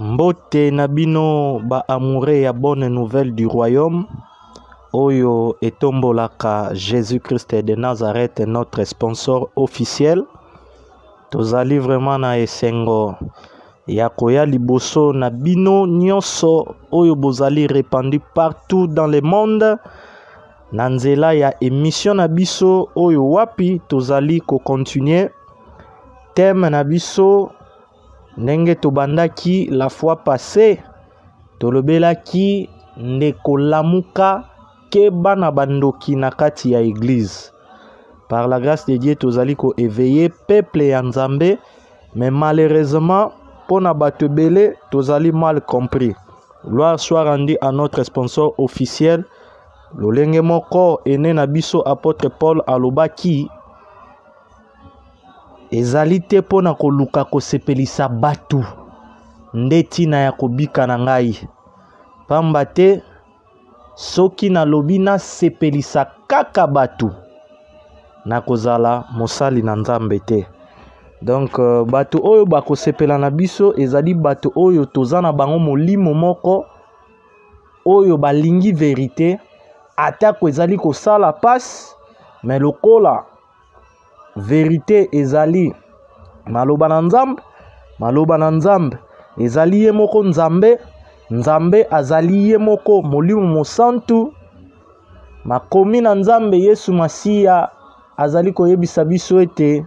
Mbote na bino ba amoureux ya bonne nouvelle du royaume oyo etombolaka Jésus-Christ de Nazareth notre sponsor officiel. Tozali vraiment na esengo ya koya liboso na bino nyonso oyo bozali repandu partout dans le monde na nzela ya emission na biso oyo wapi tozali kocontinue teme na biso ndenge tobandaki la fois passée tolobelaki ndeko lamuka keba na bandoki na kati ya eglize par la grâce de dieu tozali koeveille peuple ya nzambe mais malheureusement mpo na bato ebele tozali mal compris gloire soit rendu à notre sponsor officiel Lolenge moko, ene na biso apotre Paul alobaki ezali te mpo na koluka kosepelisa bato nde ntina ya kobika na ngai mpamba te soki nalobi nasepelisa kaka bato nakozala mosali na nzambe te donk euh, bato oyo bakosepela na biso ezali bato oyo toza na bango molimo moko oyo balingi verite atako ezali kosala mpasi me lokola verite ezali maloba na nzambe maloba na nzambe ezali ye moko nzambe nzambe azali ye moko molimo mosantu makomi na nzambe yesu masiya azali koyebisa biso ete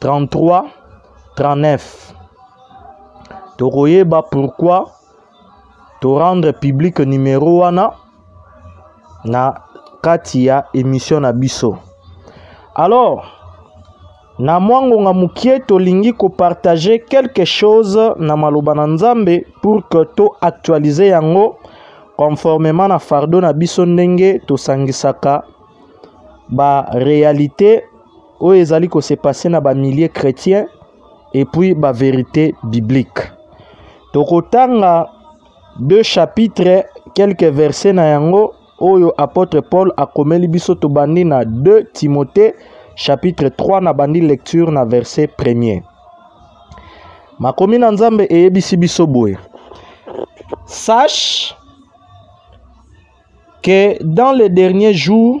33 39 tokoyeba pourquoi torendre public numero wana na kati ya emission na biso alors na mwa ngonga mokie tolingi kopartage quelque chose na maloba na nzambe pour que toactualize yango conformément na fardo na biso ndenge tosangisaka barealité oyo ezali ko se passer na ba milieux chrétiens et puis ba verite biblique tokotanga deux chapitres quelques versets na yango oyo apôtre paul akomeli biso tobandi na 2 timothée chapitre 3 na bandi lecture na verset premier makomi na nzambe eyebisi biso boye sache que dans les derniers jours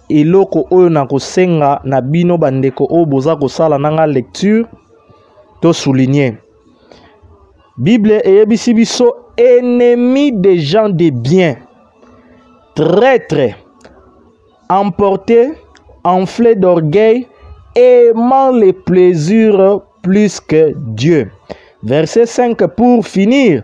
eloko oyo nakosenga na bino bandeko oyo boza kosala na nga lecture to souligne bible eyebisi biso ennemi des gens de bien traître emporté enflé d'orgueil aimant les plaisirs plus que dieu verset 5 pour finir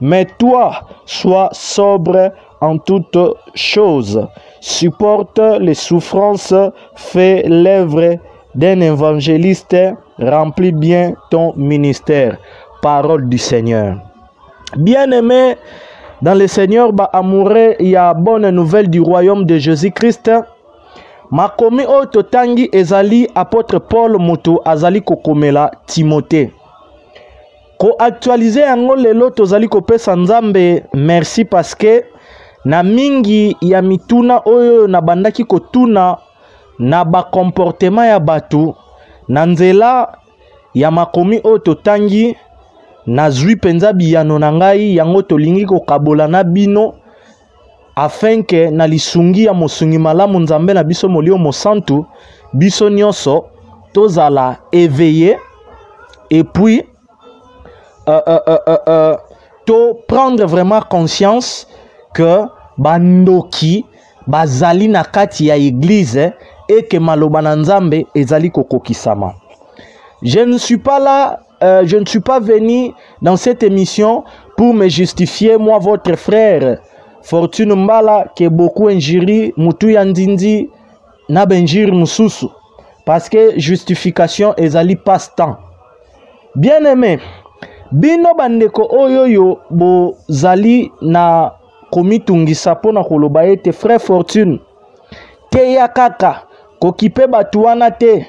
Mais toi, sois sobre en toutes choses. Supporte les souffrances, fais l'œuvre d'un évangéliste, remplis bien ton ministère. Parole du Seigneur. Bien-aimé, dans le Seigneur, ba amoureux, il y a bonne nouvelle du royaume de Jésus-Christ. makomi oyo totangi ezali apôtre paul moto azali kokomela timote koactualize yango lelo tozali kopesa nzambe merci paske na mingi ya mituna oyo nabandaki kotuna na bakomportema ya bato na nzela ya makomi oyo totangi nazwi mpenza biyano na ngai yango tolingi kokabola na bino afin ke na lisungi ya mosungi malamu nzambe na biso molio mosantu biso nyonso tozala éveillé et puis euh, euh, euh, euh, euh, to prendre vraiment conscience que bandoki bazali na kati ya eglize eke maloba na nzambe ezali kokokisama je ne suis pas là Euh, je ne suis pas venu dans cette émission pour me justifier, moi, votre frère. Fortune Mbala, que beaucoup injurient, Moutouya Ndindi, na benjir mususu parce que justification ezali passe temps bien aimé bino bandeko oyo oyo bozali na komitungisa mpo na koloba ete frère fortune teya kaka kokipe bato wana te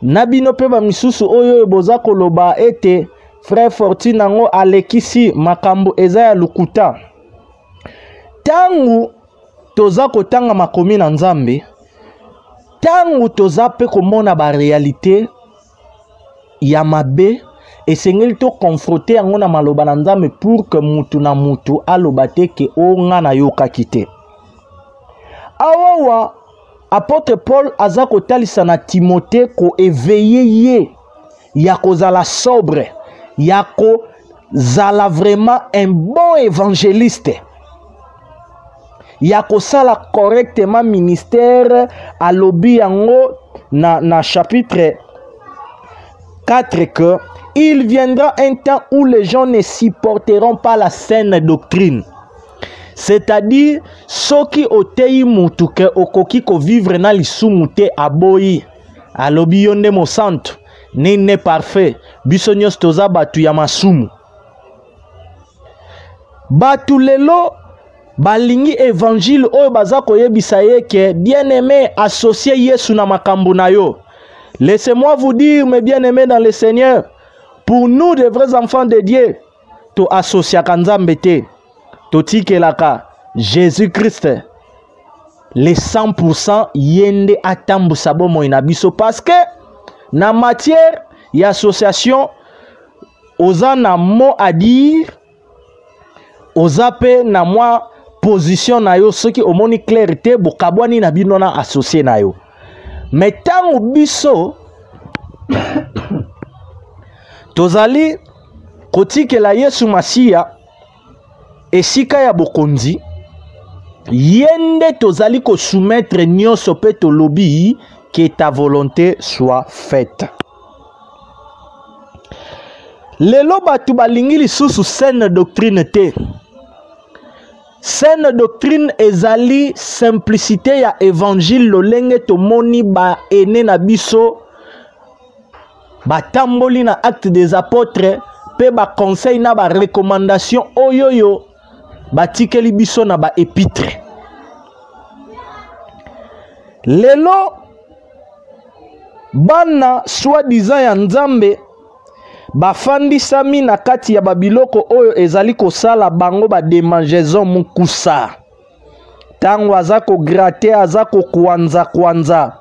na bino mpe bamisusu oyo oyo boza koloba ete frère fortune yango alekisi makambo eza ya lokuta ntango toza kotanga makomi na nzambe ntango toza mpe komona barealité ya mabe esengeli tokonfronte yango na maloba na nzambe pour ke mutu na mutu aloba te ke o nga nayokaki te awawa Apotre Paul aza kotalisa na Timote ko eveiller ye ya kozala sobre, ya kozala vraiment un bon évangéliste. ya kosala correctement ministère alobi yango na, na chapitre 4 que il viendra un temps où les gens ne supporteront pas la saine doctrine c'est-à-dire soki oteyi mutu ke okoki kovivre na lisumu te aboyi alobi yo nde mosantu nini ne parfait biso nyonso toza bato ya masumu bato lelo balingi evanjile oyo baza koyebisa ye ke bien aime associe yesu na makambo na yo laissez-moi vous dire mes bien aime dans le seigneur pour nous de vrais enfants de dieu toasosiaka nzambe te totikelaka jésus christ le 100 ye nde atambusa bomoi na biso parce que na matière ya association oza na mot à dire oza mpe na mwa position na yo soki omoni claire te bokabwani na bino na associe na yo me ntango biso tozali kotikela yesu masiya esika ya bokonzi ye nde tozali kosoumettre nyonso mpe tolobi que ta volonté soit faite lelo bato balingi lisusu saine doctrine te saine doctrine ezali simplicité ya évangile lolenge tomoni baene na biso batamboli na acte des apotres mpe baconseil na barecommandation oyoyo batikeli biso na baepitre lelo bana soi-disant ya nzambe bafandisami na kati ya babiloko oyo ezali kosala bango bademangeaison mokusa ntango aza kograte aza kokwanza kwanza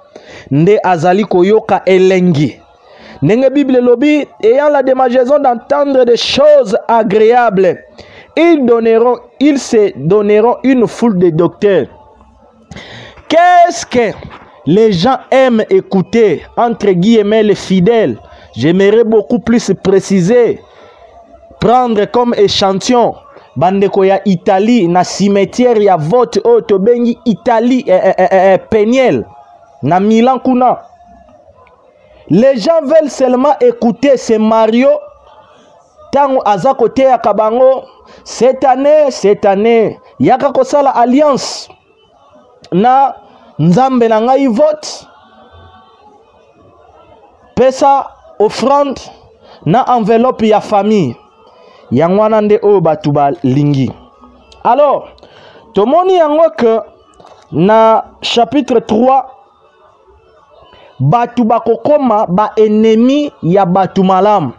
nde azali koyoka elengi ndenge bible elobi ayant la démangeaison d'entendre des choses agréables ils donneront ils se donneront une foule de docteurs qu'est-ce que les gens aiment écouter entre guillemets les fidèles j'aimerais beaucoup plus préciser prendre comme échantillon bandeko ya italie na cimetière ya vote oyo tobengi italie eh, eh, eh, eh, eh peniel na milan kuna les gens veulent seulement écouter ce mario ntango aza koteyaka bango cette année cette année yaka kosala alliance na nzambe na ngai vote pesa offrande na enveloppe ya famille yango wana nde oyo bato balingi alors tomoni yango ke na chapitre 3 bato bakokoma baennemi ya bato malamu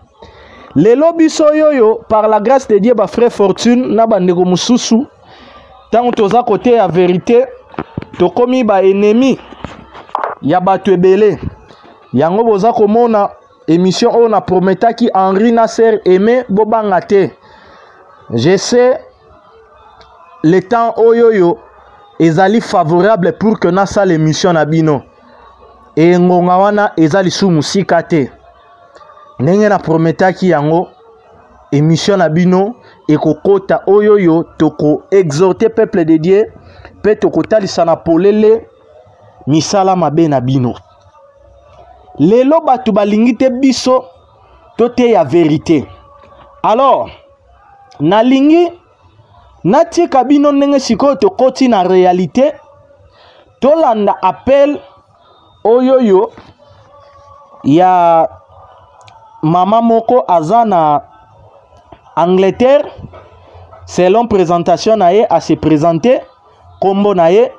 lelo biso yoyo par la grâce de dieu bafrai fortune na bandeko mosusu ntango toza koteya verité tokomi baennemi ya bato ebele yango boza komona émission oyo na prometaki henri na ser aime bobanga te je sais le temps oyo oyo ezali favorable pour que nasala émission na bino e ngonga wana eza lisusu mosika te ndenge na prometaki yango émission na bino ekokota oyo oyo toko exhorte peuple de dieu mpe tokotalisa na polele misala mabe na bino lelo bato balingi te biso toteya verite alors nalingi natika bino ndenge sikoyo tokoti na realite tolanda appel oyoyo ya mama moko aza na angleterre selon présentation na ye ase présente nkombo na ye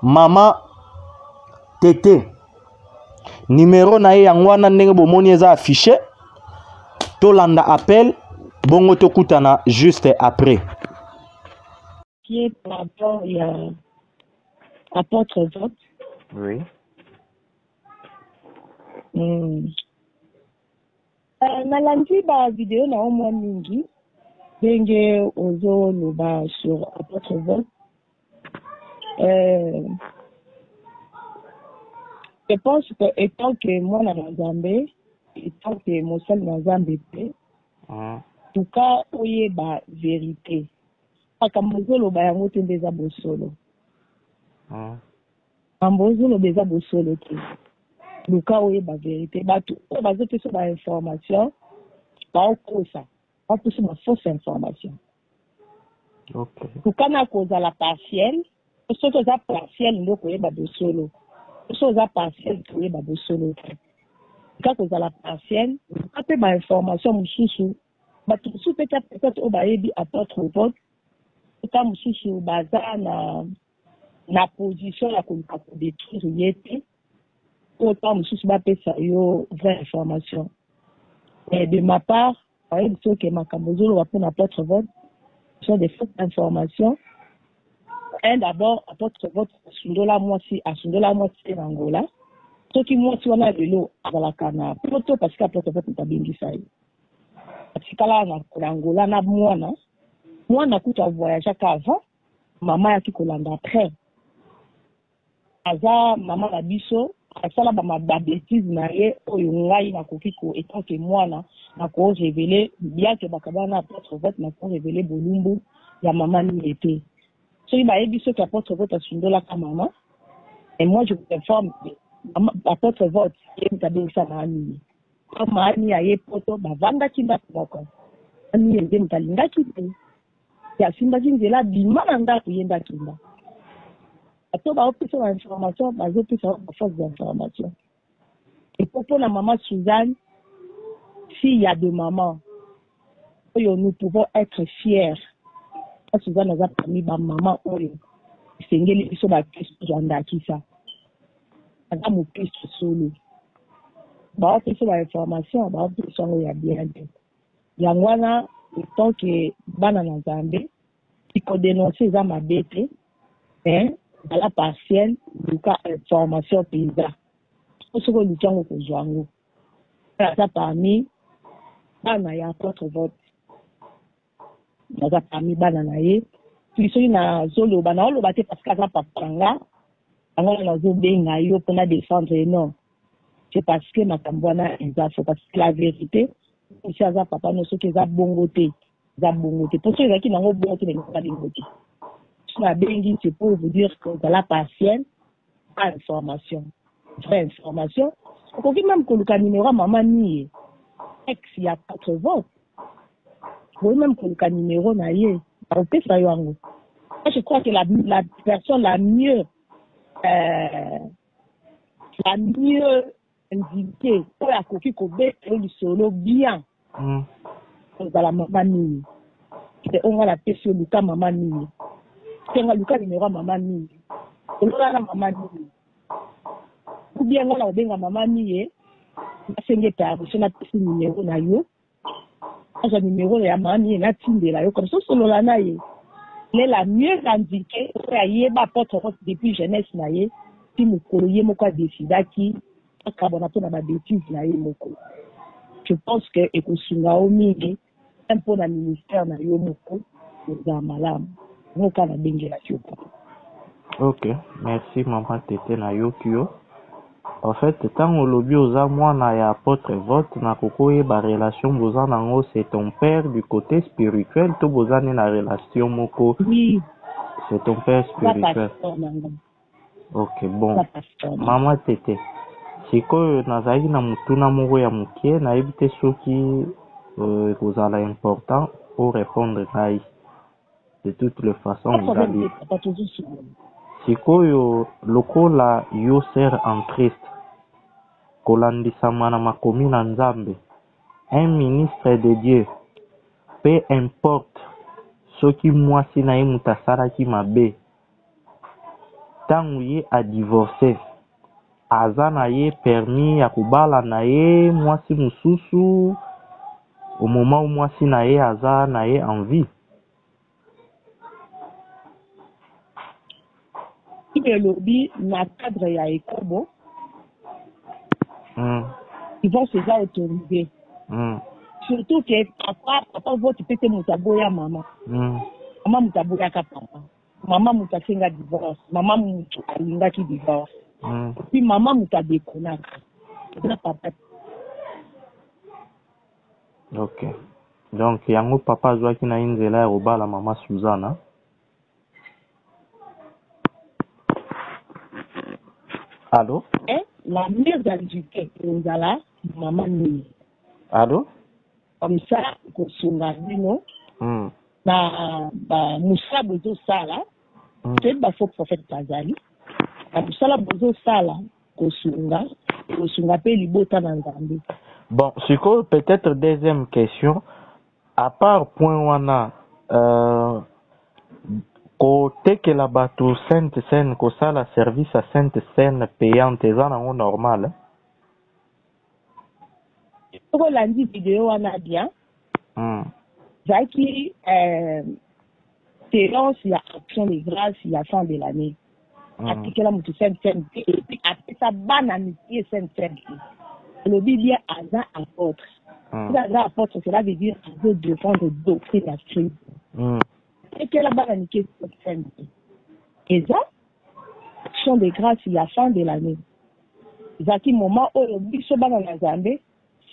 mama tete numero na ye yango wana ndenge bomoni eza affiche tolanda appel bongo tokutana juste après qui est par rapport ya apôtre Job. Oui. Mm. Uh, nalandi ba video na yo mwa mingi ndenge ozoloba sur apôtre Job Euh, je pense que étant que mwana na nzambe étant que mosali na nzambe mpe mm. tuka oyeba verité makambo ozoloba yango te nde eza bosolo mm. mambo ozoloba eza bosolo te luka oyeba verité bato oyo bazopesa ba information baokosa bakosa ba fausse information okay. tukana kozala partiel soki oza partiel nde okoyeba bosolo soki oza partiel koyeba bosolo te tika kozala partiel luka mpe bainformation mosusu bato mosusu mpe peut-être oyo bayebi apotre vote ota mosusu baza na na position ya koluka kodetruire ye te ota mosusu bapesa yo vraie information mais de ma part Bayebi te ke makambo ozoloba mpo na apotre vote sont des fausses informations. Un d'abord apotre vote asundola mwasi asundola mwasi te na Angola. Soki mwasi wana lelo azalaka na poto parce que apotre vote moto abengisa ye atikala na Angola na mwana mwana kutu avoyagaka avant mama yaki kolanda après Aza maman na biso asala ba ma ba betises na ye oyo ngai na koki ko etant que mwana na ko revele bien que bakabwana na apotre vette na ko revele bolumbu ya maman mie te soki ba yebi biso que apotre vette asundolaka maman mais moi je vous informe que maman apotre vette ye mutu abengisa maman mie comme maman mie aye poto ba vandaki ndaku moko maman mie nde mutu alingaki te Ye asimbaki nzela abima na ndako ye nde akenda. Bato baopesa ba information bazopesa ba fausses informations. Eko mpo na mama Suzanne, fille ya de maman oyo nous pouvons etre fiers. Mama Suzanne aza parmi ba mama oyo esengeli biso bakristu tozwa ndakisa. Aza mokristu solo. Baopesa ba information baopesa yango ya bien te. Yango wana etant que bana na Nzambe ki ko denoncer eza mabe te mais zala partiel luka information penza po soki oluki yango okozwa yango oyo aza parmi bana ya apotre vote aza parmi bana na ye puis soki nazoloba naoloba te parce que aza papa na nga yango wana nazobenga yo mpo na defendre ye non c'est parce que makambo wana eza fo parce que la verite esi aza papa no soki eza bongo te eza bongo te mpo soki ezalaki nango bongo te nalinga balingo te so nabengi c'est pour vous dire que ozala partiel a information vraie information okoki meme koluka numero ya mama nie ex ya quatre vote okoki meme koluka numero na ye akopesa yo yango je crois que la, la personne la mieux euh, la mieux invité oyo akoki kobeta yo lisolo bien hmm. ozala mama nini te onga napesi yo luka mama nini tenga luka nimero ya mama nini olola na mama nini ubien ngai na kobenga mama niye nasenge permission napesi nimero na yo Nazwa numero ya mamie natindela yo comme ça osolola na ye. Elle est la mieux indiquee oyo ayeba Apotre Rock depuis jeunesse na ye ti mokolo ye moko adecidaki akabwana mpo na ba betises na ye moko. Je pense que ekosunga yo mingi meme mpo na ministère na yo moko ekozala malamu. Yango kaka nabengelaki yo papa. Ok, merci maman Thethe nayoki yo. En fait tangu olobi oza muana ya apotre vote nakoki oyeba relation boza na ngo c'est ton père du cote spirituel to boza nde na relation moko oui c'est ton père spirituel ok bon mama tete sikoyo nazalaki na motuna moko ya mokie nayebi te soki euh, ekozala important o répondre ngai de toutes les façons Gaby sikoyo lokola yo sœur en Christ kolandisama na makomi na Nzambe un ministre de Dieu peu importe soki mwasi na ye moto asalaki mabe tangu ye a divorce aza na ye permis ya kobala na ye mwasi mususu au moment mwasi na ye aza na ye en vie elobi na cadre ya ekobo Mm. divorce eza autorise mm. surtout ke papa papa vote mpe te moto aboya mama mm. mama moto aboyaka papa mama moto asenga divorce mama moto alingaki divorce mm. puis mama moto adekonaka eza papa ok donc yango papa azwaki na ye nzela ya kobala mama suzana Allô Eh, la mère d'Algite, Nzala, maman Nini. Allô Comme ça, kosunga bino, mm. ba, ba musala bozo sala, mm. c'est ba faux prophète bazali. Ba musala bozo sala, kosunga, kosunga pe libota na Nzambe. Bon, sikoyo peut-être deuxième question, A part point wana euh ko tekela batu sainte seine ko sala service ya sainte seine payante eza nango normal? Soki olandi video wana bien, ezalaki seance ya action de grace ya fin de l'annee ah. atikela moto cinq cinq te epuis apesa bana mikie cinq cinq te alobi bien aza apôtre ah. soki aza apôtre cela veut dire azo défendre doctrine ya christ ah. atikela bana mikie cinq cinq te eza action de grace ya fin de l'année ezalaki moment oyo biso bana na nzambe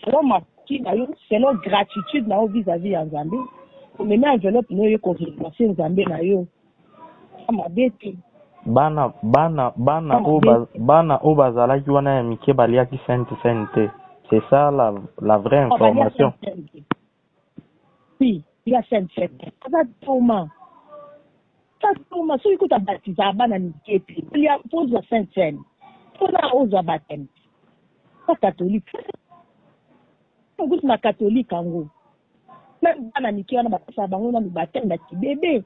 Selon makoki na yo, selon gratitude na yo vis à vis ya Nzambe, omemi enveloppe na yo oye ko remercier Nzambe na yo, eza mabe te. Bana, bana, bana Eza oyo mabe ba, te. bana oyo bazalaki wana ya mike baliaki Sainte Seine te. C'est ça la, la vraie Non, balia information. Sainte Seine te. Oui il a fait un faible aza ntoma aza ntoma soki kutu abatizaka bana mike te olia mpo ozwa sainte seine mpo na ozwa bateme aza katolike mokuti na katolike yango na bana mike wana bapesaka bango nanu bateme na kibebe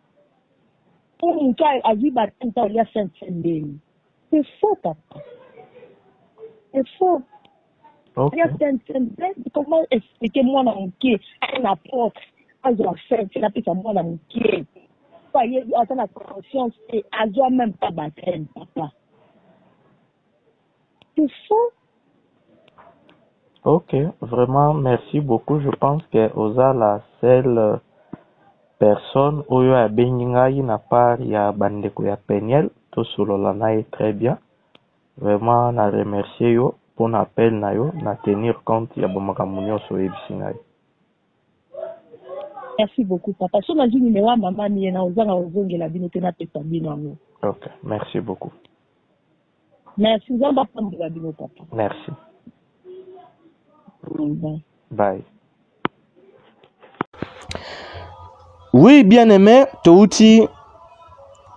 mpo moto azwi bateme ntango olia sainte seine ndeni c'est faux papa c'est faux Okay. Comment expliquer mwana moke un apôtre azwa fete napesa mwana moke po ayebi aza na conscience te azwa même pas baptême papa c'est faux Ok, vraiment merci beaucoup. Je pense que oza la seule euh, personne oyo abengi ngai na part ya bandeko ya Peniel tosolola na ye très bien. Vraiment na remercier yo pona appel na yo na tenir compte ya ba makambo nionso oyebisi ngai. Merci beaucoup papa soki nazui numero ya mama mie nakozanga kozongela bino te napesa bino yango. Ok merci beaucoup. Merci nzambe apambola bino papa. Merci. Bye. Oui, bien aimé, touti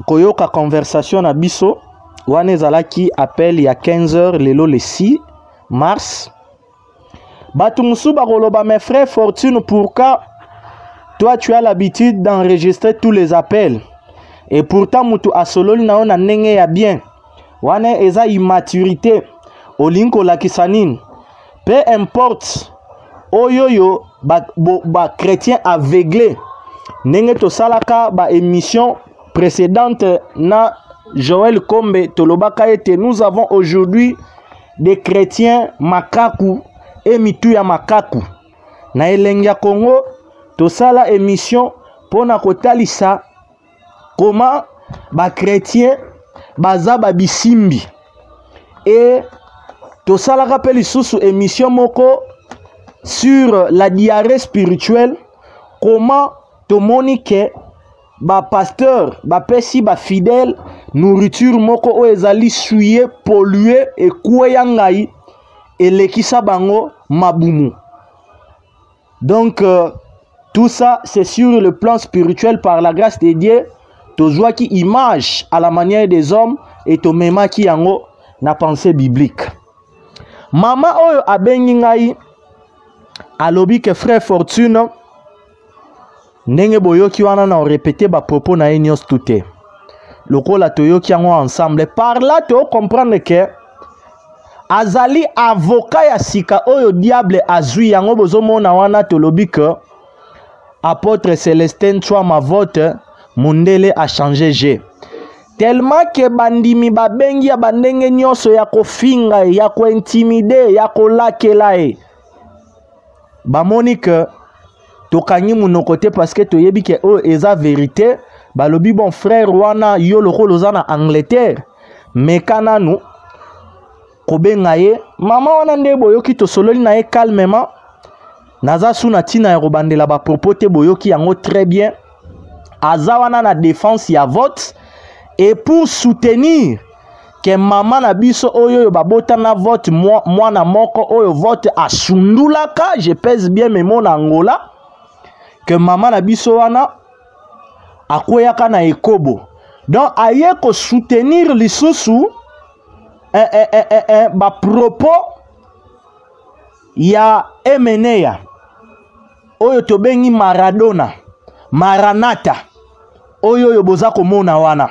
koyoka conversation na biso wana ezalaki appel ya 15 heures lelo le 6 mars bato mosusu bakoloba mes frères fortune pourquoi toi tu as l'habitude d'enregistrer tous les appels et pourtant moto asololi na yo na ndenge ya bien wana eza immaturité olingi kolakisa nini peu importe oyoyo bachrétien ba, ba aveugle ndenge tosalaka baémission précédente na joel kombe tolobaka ete nous avons aujourd'hui des chrétiens makaku e mitu ya makaku na elengi ya congo tosala émission mpo na kotalisa koma bakretien baza babisimbi e tosalaka mpe lisusu émission moko sur la diarrhée spirituelle comment tomoni ke bapasteur bapesi bafidèle nourriture moko oyo ezali suye polue ekweya ngai elekisa bango mabumu donc euh, tout ça c'est sur le plan spirituel par la grâce de dieu tozwaki image à la manière des hommes et tomemaki yango na pensée biblique mama oyo abengi ngai alobi ke frère fortune ndenge boyoki wana na orepete bapropos na ye nyonso tu te lokola toyoki yango ensemble par là tocomprendre ke azali avoka ya sika oyo diable azwi yango bozomona wana tolobi ke apôtre celestin chwama vote mundele achange je tellement ke bandimi babengi ya bandenge nyonso ya kofinga ye ya kointimide ya kolakela ye bamoni ke tokangi monoko te parceke toyebi ke oyo eza verite balobi bon frère wana yo lokola oza na angleterre meka nanu kobenga ye mama wana nde boyoki tosololi na ye calmement naza su na ntina ya kobandela bapropos te boyoki yango très bien aza wana na defense ya vote et pour soutenir ke mama na biso oyo oyo babota na vote mwana moko oyo vote asundulaka je pèse bien memo na angola ke mama na biso wana akweyaka na ekobo donc aye kosoutenir lisusu eh, eh, eh, eh, eh, bapropos ya emeneya oyo tobengi maradona maranata oyo oyo boza komona wana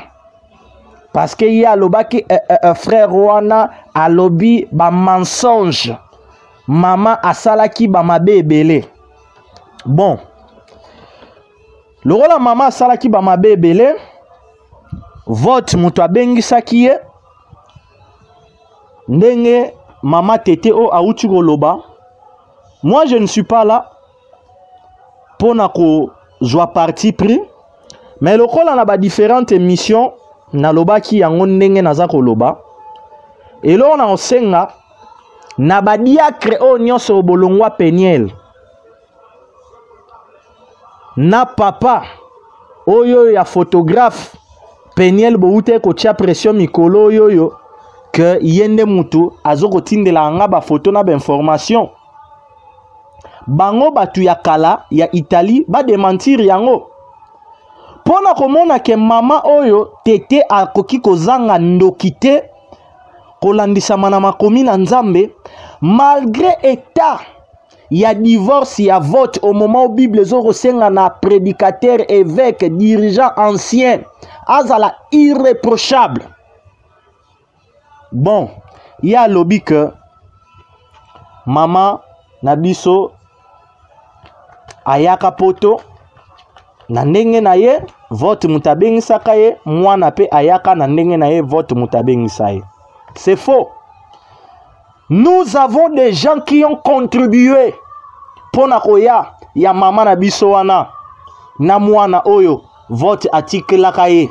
parceke ye alobaki eh, eh, eh, frère wana alobi bamensonge mama asalaki bamabe ebele bon lokola mama asalaki bamabe ebele vote moto abengisaki ye ndenge mama tete oyo awuti koloba moi je ne suis pas là mpo na kozwa parti pris mais lokola na badifférentes émissions nalobaki yango ndenge naza koloba eloko na kosenga na badiakre oyo nyonso bolongwa peniele na papa oyo ya photographe peniel bowutaki kotya pression mikolo oyo oyo ke ye nde motu azo kotindelaka nga bafoto na bainformation bango bato ya kala ya italie badementir yango mpo na komona ke mama oyo tete akoki kozanga ndoki te kolandisama na makomi na nzambe malgre etat ya divorce ya vote au moment où bible ezokosenga na prédicateur évêque dirigeant ancien azala irréprochable bon ye alobi ke mama na biso ayaka poto na ndenge na ye vote moto abengisaka ye mwana mpe ayaka na ndenge na ye vote moto abengisa ye c'est faux nous avons des gens qui ont contribué mpo na koya ya mama na biso wana na mwana oyo vote atikelaka ye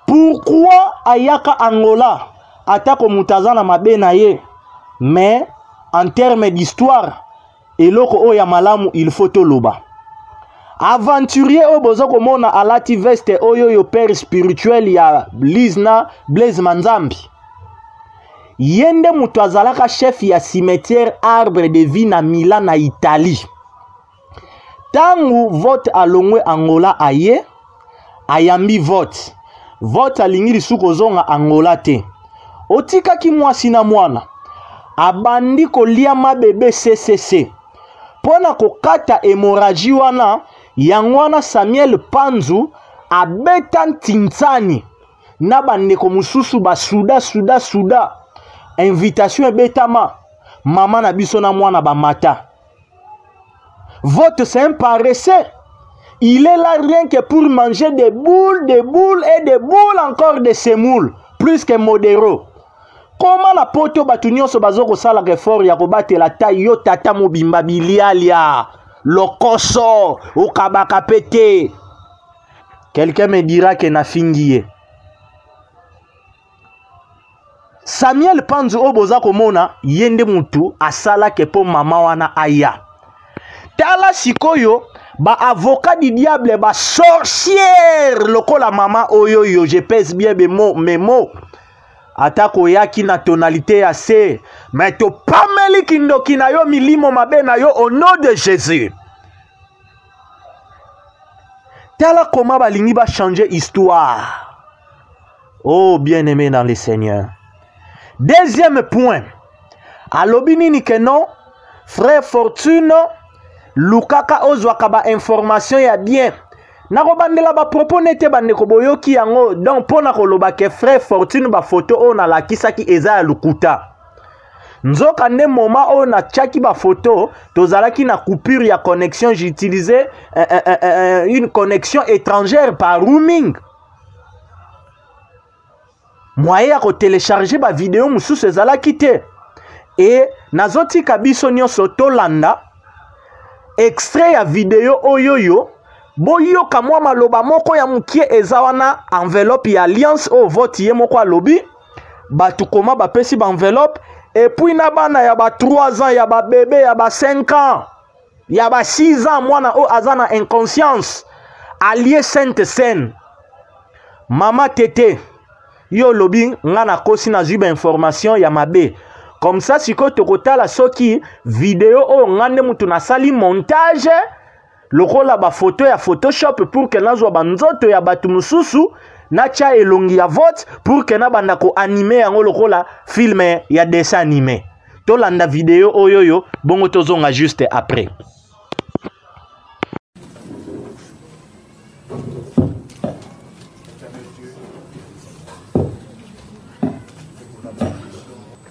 pourkui ayaka angola atako moto aza na mabe na ye mais en terme d'histoire eloko oyo ya malamu il faut toloba aventurier oyo boza komona alati veste oyo oyo père spirituel ya lise na blaise manzambi ye nde moto azalaka chef ya cimetière arbre de vie na milan na italie ntango vote alongwe angola aye ayambi vote vote alingi lisusu kozonga angola te otikaki mwasi na mwana abandi kolia mabebe ccc mpo na kokata hemoraji wana yango wana samuel panzu abeta ntintsani na bandeko mosusu basuda suda suda invitation ebetama mama na biso na mwana bamata Votre c'est un paresseux. Il est là rien que pour manger des boules, des boules et des boules encore de semoule, plus que modéro. Comment na poto bato nyonso bazo kosala effort ya kobatela ta yo tata mobimba bilialia lokoso okabaka mpe te quelqu'un me dira ke nafingi ye samuel panzu oyo boza komona ye nde mutu asalake mpo mama wana aya tala sikoyo baavocat du diable basorciere lokola mama oyo yo je pèse bien bemo memo ata koyaki na tonalité ya se me topameli kindoki na yo milimo mabe na yo au nom de jésus tala koma balingi bachange histoire oh bien aimé dans le seigneur deuxième point alobi nini ke non frère fortune lukaka ozwaka bainformation ya bien nakobandela bapropos nete bandeko boyoki yango donc mpo na koloba ke frère fortune bafoto oyo nalakisaki eza ya lokuta nzoka nde moment oyo natyaki bafoto tozalaki na coupure ya connexion j'utilise eh, eh, eh, eh, une connexion étrangère par rooming moyen ya kotelecharge bavideo mosusu ezalaki te e nazotika biso nyonso tolanda extrait ya video oyo yo boyoka mwa maloba moko ya mokie eza wana enveloppe ya alliance oyo vote ye moko alobi bato koma bapesi baenveloppe epuis na bana ya ba 3 ans ya babebe ya ba 5 ans ya ba 6 ans mwana oyo aza na inconscience alie sainte seine mama tete yo olobi ngai nakosi nazwi bainformation ya mabe comme ça sikoyo tokotala soki video oyo ngai nde moto nasali montage lokola bafoto ya photoshop pour ke nazwa banzoto ya bato mosusu natya elongi ya vote pour ke nabanda koanime yango lokola filme ya dessin anime tolanda video oyo oyo bongo tozonga juste après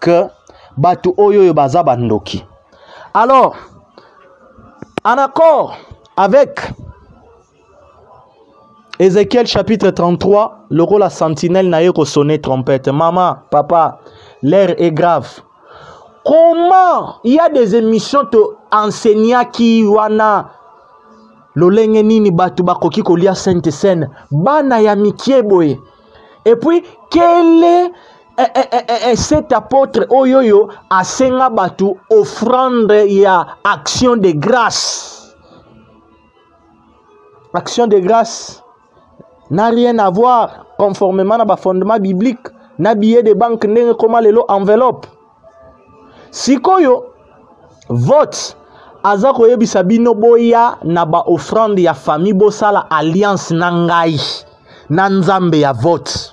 que bato oyo oyo baza bandoki alors en accord avec Ézéchiel chapitre 33, le rôle la sentinelle n'a pas sonné trompette. Maman, papa, l'air est grave. Comment il y a des émissions te enseignant qui wana lolenge nini batu bakoki kolia sainte scène bana ya mikie boye et puis quel est eh, eh, eh, eh, eh cet apôtre oyo oyo asenga bato offrande ya action de grâce action de grâce n'a rien à voir conformément na bafondement biblique na billet de banque ndenge ekoma lelo enveloppe sikoyo vote aza koyebisa bino boya na baoffrande ya famille bosala alliance na ngai na nzambe ya vote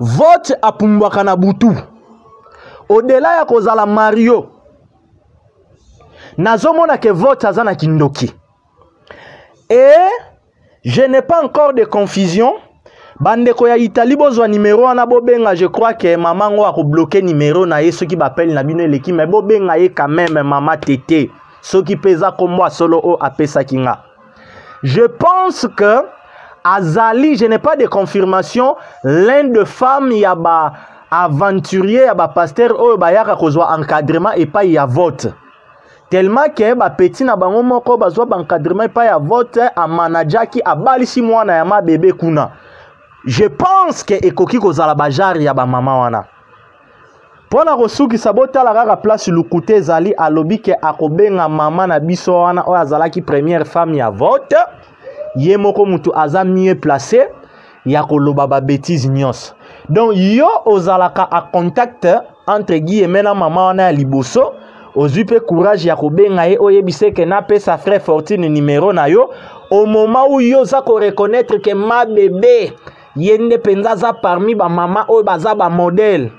vote apumbwaka na butu odela ya kozala mario nazomona ke vote aza na kindoki et je n'ai pas encore de confusion bandeko ya italie bozwa nimero wana bobenga je crois ke mama ngo akobloke nimero na ye soki bapele na bino eleki me bobenga ye quand meme mama tete soki mpe eza nkombo ya solo oyo apesaki nga je pense que azali je n'ai pas de confirmation l'un de femme ya ba aventurier ya ba pasteur oyo bayaka kozwa encadrement epai ya vote tellement ke bapeti na bango moko bazwa baencadrement epai ya vote amanajaki abalisi mwana ya mabebe kuna je pense ke ekoki kozala bajare ya bamama wana mpo na kosukisa botala kaka place lukuta ezali alobi ke akobenga mama na biso wana oyo azalaki première femme ya vote ye moko mutu aza mieux place ya koloba babetise nyonso donc yo ozalaka a contact entre guillemets na mama wana ya liboso ozwi mpe courage ya kobenga ye oyebisa eke napesa frais fortune numero na yo au moment où yo oza koreconnaitre ke ma bebe ye nde mpenza aza parmi bamama oyo baza bamodele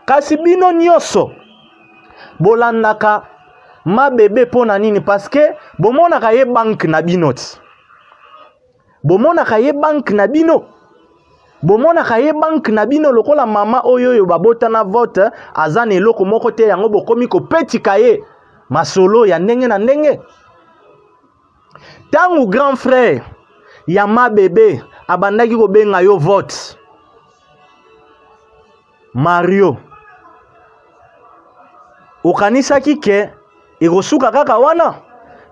kasi bino nyonso bolandaka mabebe mpo na nini parceke bomonaka ye banke na bino ti bomonaka ye banke na bino bomonaka ye banke na bino lokola mama oyo oyo babota na vote aza na eloko moko te yango bokomi kopetika ye masolo ya ndenge na ndenge ntango grand frère ya mabebe abandaki kobenga yo vote mario okanisaki ke ekosuka kaka wana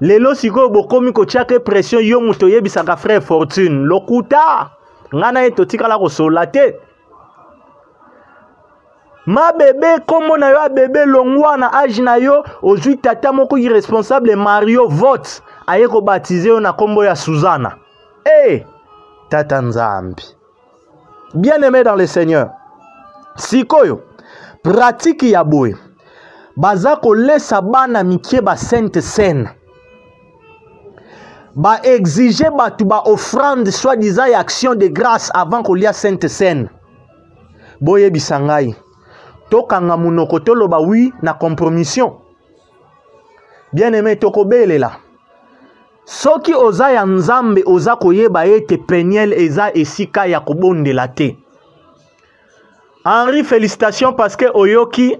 lelo sikoyo bokomi kotyaka pression yo moto oyebisaka frère fortune lokuta ngai na ye totikala kosolola te ma bebe kombo na yo ya bebe longwa na age na yo ozwi tata moko irresponsable mario vote aye kobatize yo na kombo ya suzana e hey, eh, tata nzambi bien aimé dans le seigneur sikoyo pratike ya boye baza kolesa bana mikie ba sainte scène ba exige bato ba offrande soit disant ya action de grâce avant kolia sainte seine boyebisa ngai tokanga monoko toloba wi na compromission bien aimé tokobelela soki oza ya nzambe oza koyeba ete peniel eza esika ya kobondela te henri félicitation parce que oyoki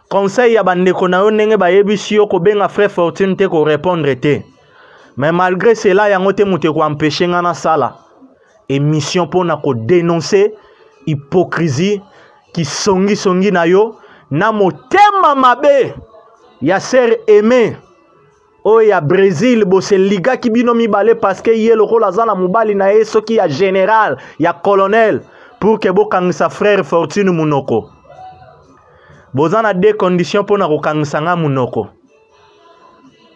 conseil ya bandeko na yo ndenge bayebisi yo kobenga frais fortune te korépondre te mais malgré cela yango te moto ekoempeshe ngai nasala émission mpo na kodenonce hypocrisie kisongisongi na yo na motema mabe ya ser aime oyo ya brésil bose ligaki bino mibale parceke ye lokola aza na mobali na ye soki ya général ya colonel pour ke bokangisa frère fortune monoko boza na deux conditions mpo na kokangisa nga monoko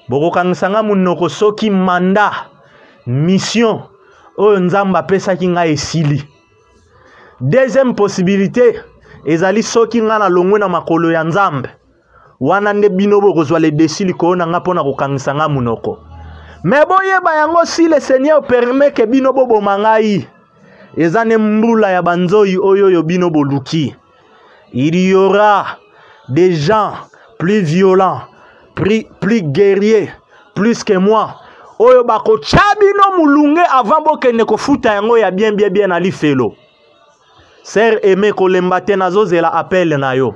bokokangisa nga monoko soki mandat mission oyo nzambe apesaki ngai esili deuxième possibilité ezali soki ngai nalongwe na makolo ya nzambe wana nde bino bokozwa ledesi likolo na nga mpo na kokangisa nga monoko me boyeba yango si le seigneur permet ke bino boboma ngai eza nde mbula ya banzoi oyo oyo bino boluki il y aura des gens plus violents plus, plus guerrier plus que moi oyo bakotya bino molunge avant bokende kofuta yango ya bien bien bien na lifelo ser aime kolemba te nazozela appel na yo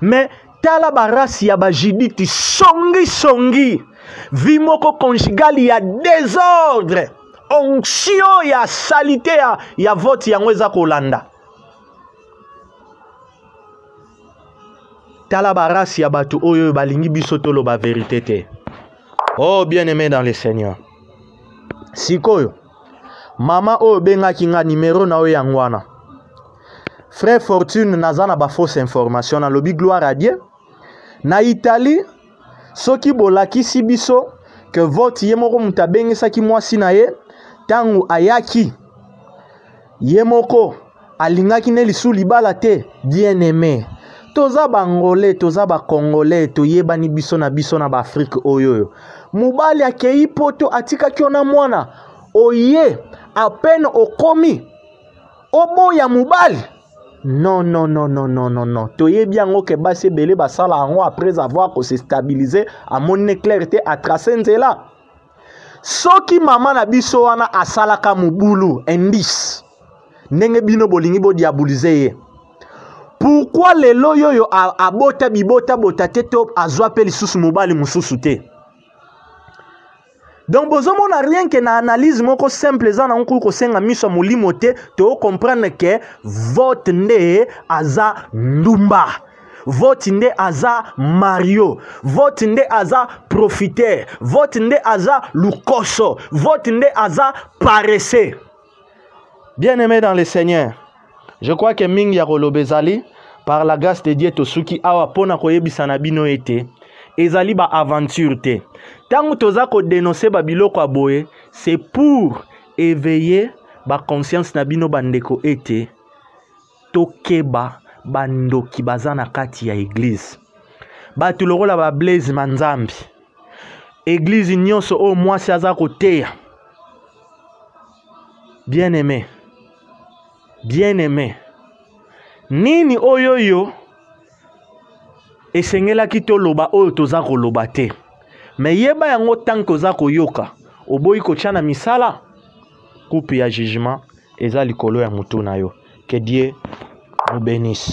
mais tala barasi ya bajiditi songisongi vi moko conjugale ya desordre onction ya salite ya, ya vote yango eza kolanda tala barasi ya bato oyo oyo balingi biso toloba verite te oh bien aimé dans le seigneur sikoyo mama oyo obengaki nga nimero na yo yango wana frère fortune naza na bafausse information nalobi gloire à dieu na italie soki bolakisi biso ke vote ye moko moto abengisaki mwasi na ye ntango ayaki ye moko alingaki ne lisu libala te bien aime toza bangole toza bakongole toyebani biso na biso na baafrike oyo oyo mobali akei poto atikaki yo na mwana oye apene okomi oboya mobali non non non non non non non toyebi yango ke basi ebele basala yango après avoir ko se stabiliser amoni ne claire te atrace nzela soki mama na biso wana asalaka mobulu indice ndenge bino bolingi bodiabolize ye pourkui lelo yoyo abota bibotabota te to azwa mpe lisusu mobali mosusu te donc bozomona rien ke na analyse moko simple eza nango kuku kosenga miso ya molimo te toocomprendre ke vote nde aza ndumba vote nde aza mario vote nde aza profiteur vote nde aza lukoso vote nde aza paresse bien aimé dans le seigneur je crois que mingi ya koloba ezali par la grâce de dieu tosuki awa mpo na koyebisa na bino ete ezali baaventure te ntango toza kodenonse babiloko ya boye c'est pour éveiller baconscience na bino bandeko ete tokeba bandoki baza na kati ya eglize bato lokola ba blaise manzambi eglize nyonso oyo mwasi aza koteya bien aime bien aime nini oyo yo esengelaki toloba oyo toza koloba te me yeba yango ntango oza koyoka oboyi kotya na misala kupe ya jugement eza likolo ya motu na yo que dieu nous benisse